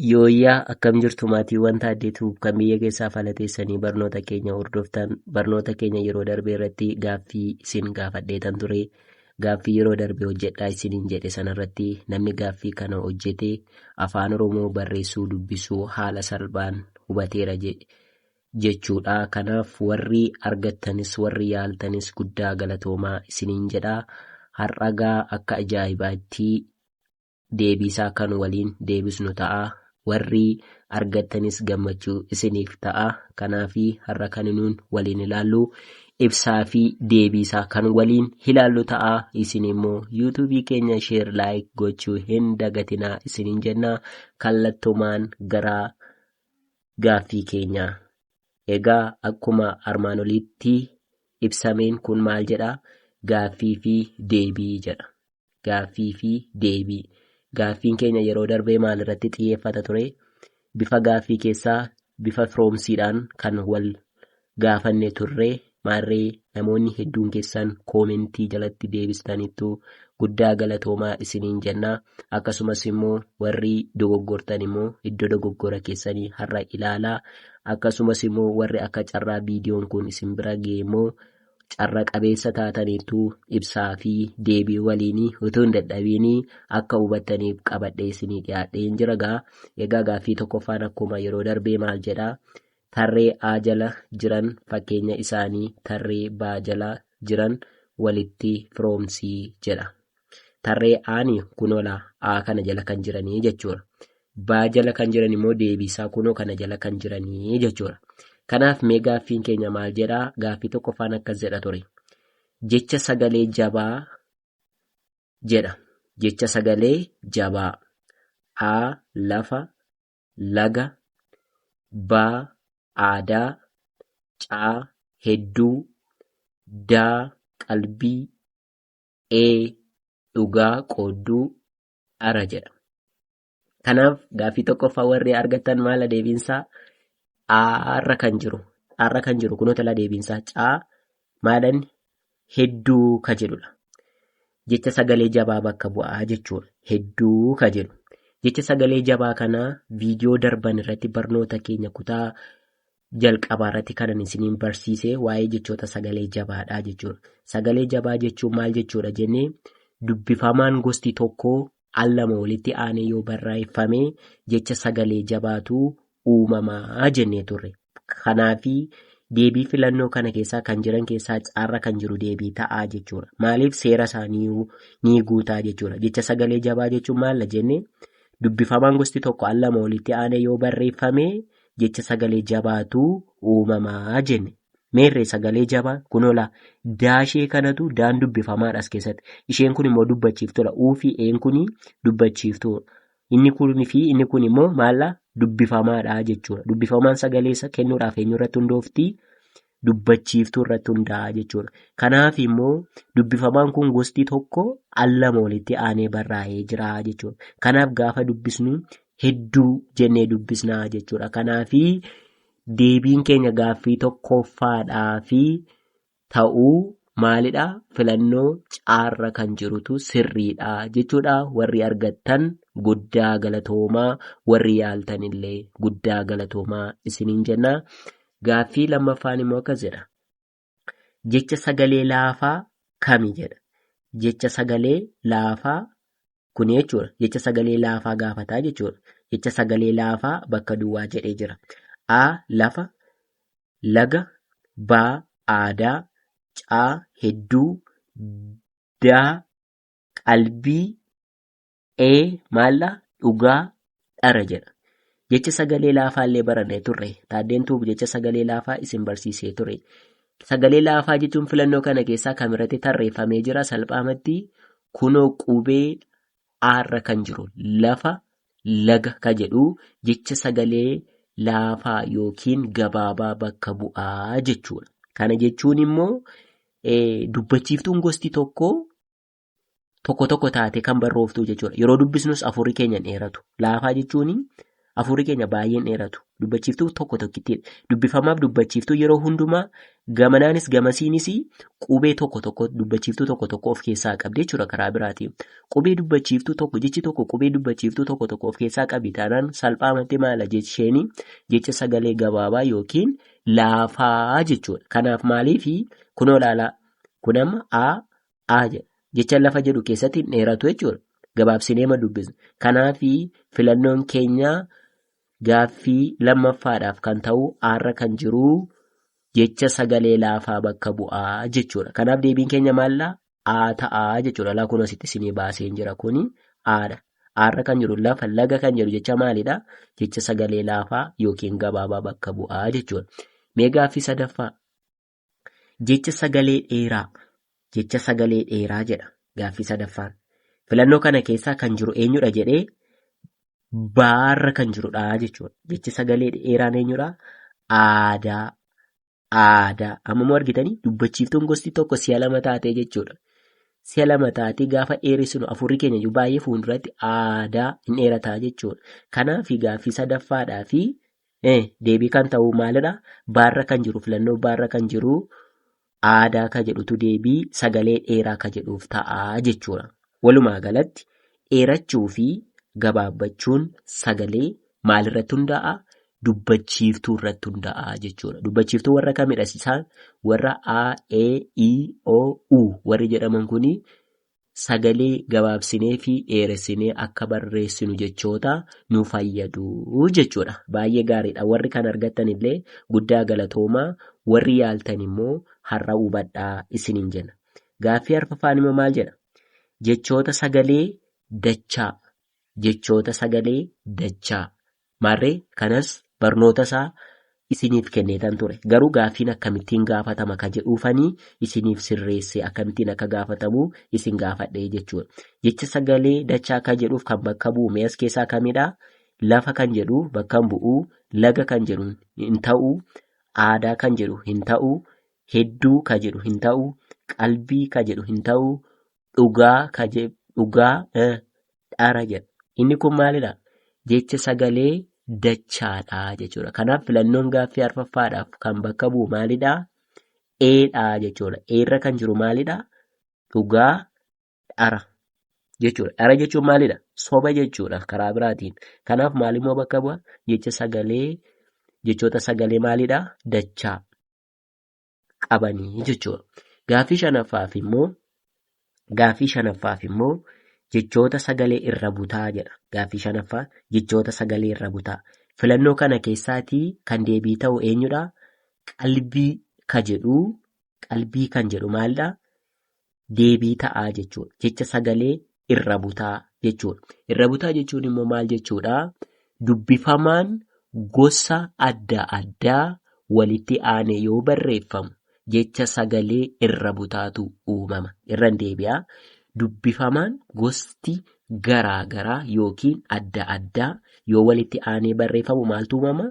Yooyyaa akkam jirtu maatiiwwan taaddeetu kan biyya keessaa fala teessanii barnoota keenya hordoftan barnoota keenya yeroo darbee irratti gaaffii isin gaafadheetan ture gaaffii yeroo darbee hojjedhaa isiniin jedhe sanarratti namni gaaffii kana hojjete afaan oromoo barreessuu dubbisuu haala salphaan hubateera jechuudha kanaaf warri argattanis warri yaaltanis guddaa galatoomaa isiniin jedha har'agaa akka ajaa'ibaatti deebiisaa kan waliin deebisnu ta'a. Warri argattanis gammachuu isiniif ta'a. Kanaafi har'a kan nuun waliin ilaallu ibsaa fi deebiisaa kan waliin ilaallu ta'a. Isin immoo yuutuubii keenya sheer laayik gochuu hin dagatinaa isiniin jenna. Kallattumaan gara gaaffii keenya. Egaa akkuma armaan oliitti ibsameen kun maal jedha? Gaaffii fi deebii jedha. Gaaffii fi deebii. Gaaffiin keenya yeroo darbee maalirratti xiyyeeffata ture? Bifa gaaffii keessaa bifa firoomsiidhaan kan wal gaafanne turre. Maarree namoonni hedduun keessan koomentii jalatti deebistaniittu guddaa galatoomaa isiniin jenna. Akkasumas immoo warri dogoggortan immoo iddoo dogoggora keessanii har'a ilaalaa. Akkasumas immoo warri akka carraa viidiyoon kun isin bira ga'e immoo carra qabeessa taataniittu ibsaa fi deebii waliin utuu hin dadhabiin akka hubattaniif qabadhee isinii dhiyaadheen jira gaa egaa gaaffii tokkoffaan akkuma yeroo darbee maal jedha tarree A jala jiran fakkeenya isaanii tarree B jala jiran walitti firoomsii jedha Tarree aani kunoo laa A kana jala kan jiranii jechuudha. Baa jala kan jiran immoo deebiisaa kunoo kana jala kan jiranii jechuudha. Kanaaf mee gaaffiin keenya maal jedhaa? Gaaffii tokkoffaan akkas jedha ture. Jecha sagalee jabaa jedha. Jecha sagalee jabaa. A lafa, laga, baa aadaa, caa hedduu, daa qalbii, A. Dhugaa qoodduu dhara jedhama. Kanaaf gaaffii tokkoffaa warri argattan maala deebiinsaa Aarra kan jiru. Aarra kan jiru kunoo talaa deebiinsaa caa maalan hedduu ka jedhudha. Jecha sagalee jabaa bakka bu'aa jechuudha. Hedduu ka jedhu. Jecha sagalee jabaa kana viidiyoo darban irratti barnoota keenya kutaa Jalqabaa irratti kanan isiniin barsiise waa'ee jechoota sagalee jabaadha jechuudha. Sagalee jabaa jechuun maal jechuudha jennee dubbifamaan gosti tokko al lama walitti aanee yoo barreeffame jecha sagalee jabaatu uumamaa jennee turre. Kanaaf deebii filannoo kana keessaa kan jiran keessaa carra kan jiru deebii ta'aa jechuudha. Maaliif seera isaanii ni guutaa jechuudha. Jecha sagalee jabaa jechuun maalla jenne dubbifamaan gosti tokko al lama walitti aanee yoo barreeffame jecha sagalee jabaatu uumamaa jenne. Meerree sagalee jabaa kunoo laa daashee kanatu daan dubbifamaadha as keessatti. Isheen kun immoo dubbachiiftuudha. Uu fi een kun dubbachiiftuudha. Inni kun fi inni kun immoo maallaa dubbifamaadha jechuudha. Dubbifamaan sagalee isa kennuudhaaf eenyurratti hundoofti? dubbachiiftuu irratti hundaa'a jechuudha. Kanaaf immoo dubbifamaan kun gosti tokko al lama walitti aanee barraa'ee jira jechuudha. Kanaaf gaafa dubbisnu hedduu jennee dubbisna jechuudha. Kanaaf deebiin keenya gaaffii tokkoffaadhaa fi ta'uu maalidha filannoo caarra kan jirutu sirriidha jechuudha warri argattan guddaa galatoomaa warri yaaltanillee guddaa galatoomaa isiniin jenna Gaaffii lammaffaan immoo akkas jedha. Jecha sagalee laafaa kami jedha. Jecha sagalee laafaa kuni jechuudha. Jecha sagalee laafaa gaafataa jechuudha. Jecha sagalee laafaa bakka duwwaa jedhee jira. A lafa, laga, B aadaa, C hedduu, D qalbii, Ee maalla dhugaa dhara jedha. Jecha sagalee laafaa illee barannee turre. Taaddeen tuubu jecha sagalee laafaa isin barsiisee ture. Sagalee laafaa jechuun filannoo kana keessaa kam irratti tarreeffamee jira salphaamatti kunoo qubee aarra kan jiru lafa laga ka jedhu jecha sagalee laafaa yookiin gabaabaa bakka bu'aa jechuudha. Kana jechuun immoo ee, dubbachiiftuun gosti tokko tokko tokko taatee kan barrooftuu jechuudha. Yeroo dubbisnus afuurri keenya hin dheeratu. Laafaa jechuun afuurri keenya baay'ee hin dheeratu. Dubbachiiftuu tokko tokkittiin dubbifamaaf dubbachiiftuu yeroo hundumaa gamanaanis gamasiinis qubee tokko tokko dubbachiiftuu tokko tokko of keessaa qabdi jechuudha karaa biraatiin. Qubee dubbachiiftuu tokko jechi tokko qubee dubbachiiftuu tokko tokko of keessaa qabi taanaan salphaamatti maala jecheen jecha sagalee gabaabaa yookiin laafaa jechuudha. Kanaaf maaliif kunoo ilaalaa kun amma A a jedha. Jecha lafa jedhu keessatti hin dheeratu jechuudha. Gabaabsinee ma dubbisna. Kanaaf filannoon keenya gaaffii lammaffaadhaaf kan ta'u aarra kan jiru jecha sagalee laafaa bakka bu'aa jechuudha. Kanaaf deebiin keenya maallaa a ta'a jechuudha. Laa kun asitti isinii baaseen jira kuni aadha. Aarra kan jiru lafa laga kan jedhu jecha maalidha? Jecha sagalee laafaa yookiin gabaabaa bakka bu'aa jechuudha. Mee gaaffii sadaffaa Jecha sagalee dheeraa. Jecha sagalee dheeraa jedha gaaffii sadaffaan. Filannoo kana keessaa kan jiru eenyudha jedhee baarra kan jirudha jechuudha. Jechi sagalee dheeraan eenyudha? Aadaa. Aadaa. Amma immoo argitanii dubbachiiftuun gosti tokko si'a lama taatee jechuudha. Si'a lama taatee gaafa dheeressinu afurri keenya iyyuu baay'ee fuulduratti aadaa hin dheerataa jechuudha. Kanaaf gaaffii sadaffaadhaa fi Ee, deebii kan ta'u maalidha? Baarra kan jiru filannoo baarra kan jiru aadaa ka jedhutu deebii sagalee dheeraa ka jedhuuf ta'a jechuudha. Walumaa galatti dheerachuu fi gabaabbachuun sagalee maalirratti hundaa'a? Dubbachiiftuu irratti hundaa'a jechuudha. Dubbachiiftuu warra kamidha isaan? Warra A, E, I, O, U warri jedhaman kuni sagalee gabaabsinee fi dheeressinee akka barreessinu jechoota nu fayyadu jechuudha. Baay'ee gaariidha. Warri kan argattan illee guddaa galatoomaa warri yaaltan immoo har'a hubadhaa isiniin jenna. Gaaffii arfaffaan immoo maal jedha? Jechoota sagalee dachaa jechoota sagalee dachaa Maarree kanas barnootasaa isiniif kenneetan ture. Garuu gaaffiin akkamittiin gaafatama ka jedhuufanii isiniif sirreesse akkamittiin akka gaafatamu isin gaafadhe jechuudha. Jecha sagalee dachaa ka jedhuuf kan bakka bu'u mee as keessaa kamidha? Lafa kan jedhu bakka hin bu'u, laga kan jedhu hin ta'u, aadaa kan jedhu hin ta'u, hedduu ka jedhu hin ta'u, qalbii ka jedhu hin ta'u, dhugaa ka je dhugaa eh, dhara jedha. Inni kun maalidha? Jecha sagalee dachaadha jechuudha. Kanaaf filannoon gaaffii arfaffaadhaaf kan bakka bu'u maalidha? Eedha jechuudha. Eerra kan jiru maalidha? Dhugaa dhara jechuudha. Dhara jechuun maalidha? Soba jechuudha karaa biraatiin. Kanaaf maalimmoo bakka bu'a? Jecha sagalee jechoota sagalee maalidha? Dachaa. qabanii jechuudha. Gaaffii shanaffaaf immoo gaaffii shanaffaaf immoo jechoota sagalee irra butaa jedha. Gaaffii shanaffaa jechoota sagalee irra butaa. Filannoo kana keessaatii kan deebii ta'u eenyudha? Qalbii ka jedhu qalbii kan jedhu maalidha? deebii ta'aa jechuudha. Jecha sagalee irra butaa jechuudha. Irra butaa jechuun immoo maal jechuudha? Dubbifamaan gosa adda addaa walitti aanee yoo barreeffamu jecha sagalee irra butaatu uumama. Irra hin deebi'aa. Dubbifamaan gosti garaa garaa yookiin adda addaa yoo walitti aanee barreeffamu maaltu uumama?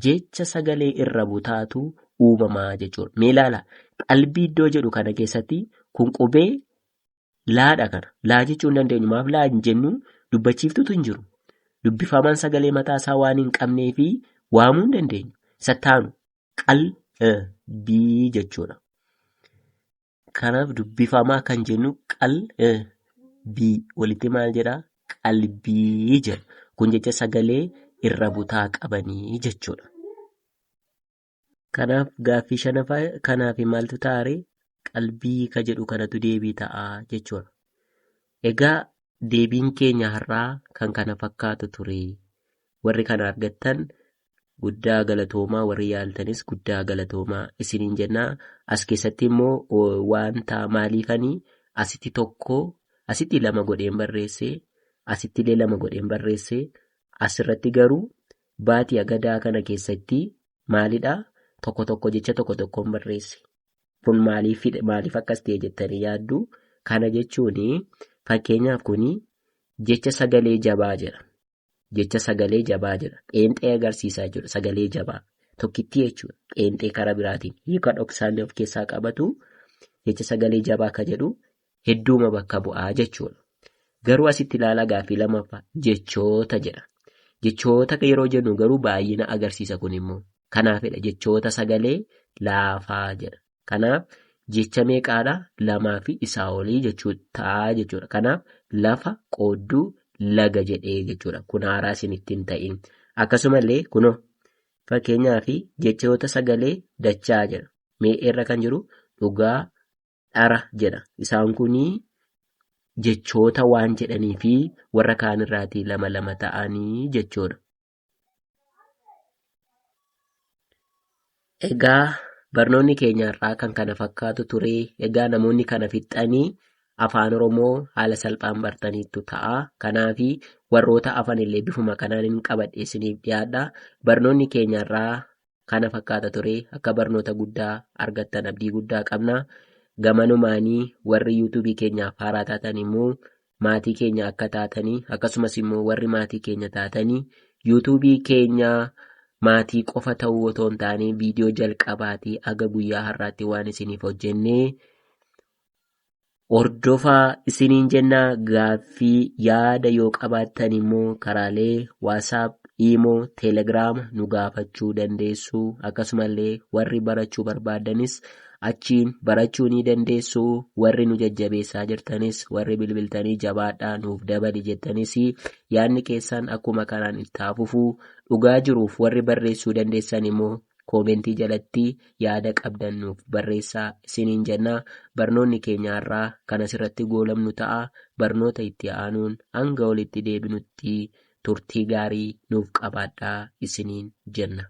jecha sagalee irra butaatu uumama jechuudha. Mee ilaala qalbii iddoo jedhu kana keessatti kun qubee laadha kana. Laa jechuu hin dandeenyu. Maaf laa hin jennu dubbachiiftutu hin jiru. Dubbifamaan sagalee mataa isaa waan hin qabnee fi waamuu hin dandeenyu. Isa taanu qalbii jechuudha. Kanaaf dubbifamaa kan jennu qal eh, bii walitti maal jedha qalbii jedha. Kun jecha sagalee irra butaa qabanii jechuudha. Kanaaf gaaffii shanaffaa kanaaf maaltu taare qalbii ka jedhu kanatu deebii ta'a jechuudha. Egaa deebiin keenya har'aa kan kana fakkaatu ture. Warri kana argattan Guddaa galatoomaa warri yaaltanis guddaa galatoomaa isiniin jennaa as keessatti immoo wanta maaliifani asitti tokko asitti lama godheen barreesse asitti illee lama godheen barreesse asirratti garuu baatii agadaa kana keessatti maalidha tokko tokko jecha tokko tokkoon barreesse kun maaliif maaliif akkas ta'e jettanii yaaddu kana jechuun fakkeenyaaf kun jecha sagalee jabaa jedha Jecha sagalee jabaa jedha. Qeenxee agarsiisaa jechuudha. Sagalee jabaa. Tokkittii jechuudha. Qeenxee karaa biraatiin. Hiika dhoksaallee of keessaa qabatu jecha sagalee jabaa ka jedhu hedduuma bakka bu'aa jechuudha. Garuu asitti ilaalaa gaaffii lammaffaa jechoota jedha. Jechoota yeroo jennu garuu baay'ina agarsiisa kun immoo. Kanaafidha jechoota sagalee laafaa jedha. Kanaaf jecha meeqaadha? Lamaa fi isaa olii jechuu ta'a jechuudha. Kanaaf lafa qoodduu laga jedhee jechuudha. Kun haaraa isin ittiin ta'in. Akkasumallee kunoo fakkeenyaa fi jechoota sagalee dachaa jedha. Mee irra kan jiru dhugaa dhara jedha. Isaan kunii jechoota waan jedhanii fi warra kaan irraatii lama lama ta'anii jechuudha. Egaa barnoonni keenya har'aa kan kana fakkaatu ture. Egaa namoonni kana fixxanii afaan Oromoo haala salphaan bartaniittu ta'a. Kanaaf warroota afan illee bifuma kanaan hin qabadhe isiniif dhiyaadha. Barnoonni keenya har'aa kana fakkaata ture akka barnoota guddaa argattan abdii guddaa qabna gamanumaanii warri yuutuubii keenyaaf haaraa taatan immoo maatii keenya akka taatanii akkasumas immoo warri maatii keenya taatanii yuutuubii keenya maatii qofa ta'uu otoo hin taane viidiyoo jalqabaatii aga guyyaa har'aatti waan isiniif hojjennee Hordofaa isiniin jenna gaaffii yaada yoo qabaattan immoo karaalee WhatsApp, Imo, Telegram nu gaafachuu dandeessu akkasumallee warri barachuu barbaaddanis achiin barachuu ni dandeessu warri nu jajjabeessaa jirtanis warri bilbiltanii jabaadhaa nuuf dabali jettanis yaadni keessan akkuma kanaan itti haa fufu dhugaa jiruuf warri barreessuu dandeessan immoo Koomentii jalatti yaada qabdan nuuf barreessaa isiniin jenna. Barnoonni keenya har'aa kan asirratti goolabnu ta'a. Barnoota itti aanuun hanga walitti deebinutti turtii gaarii nuuf qabaadhaa isiniin jenna.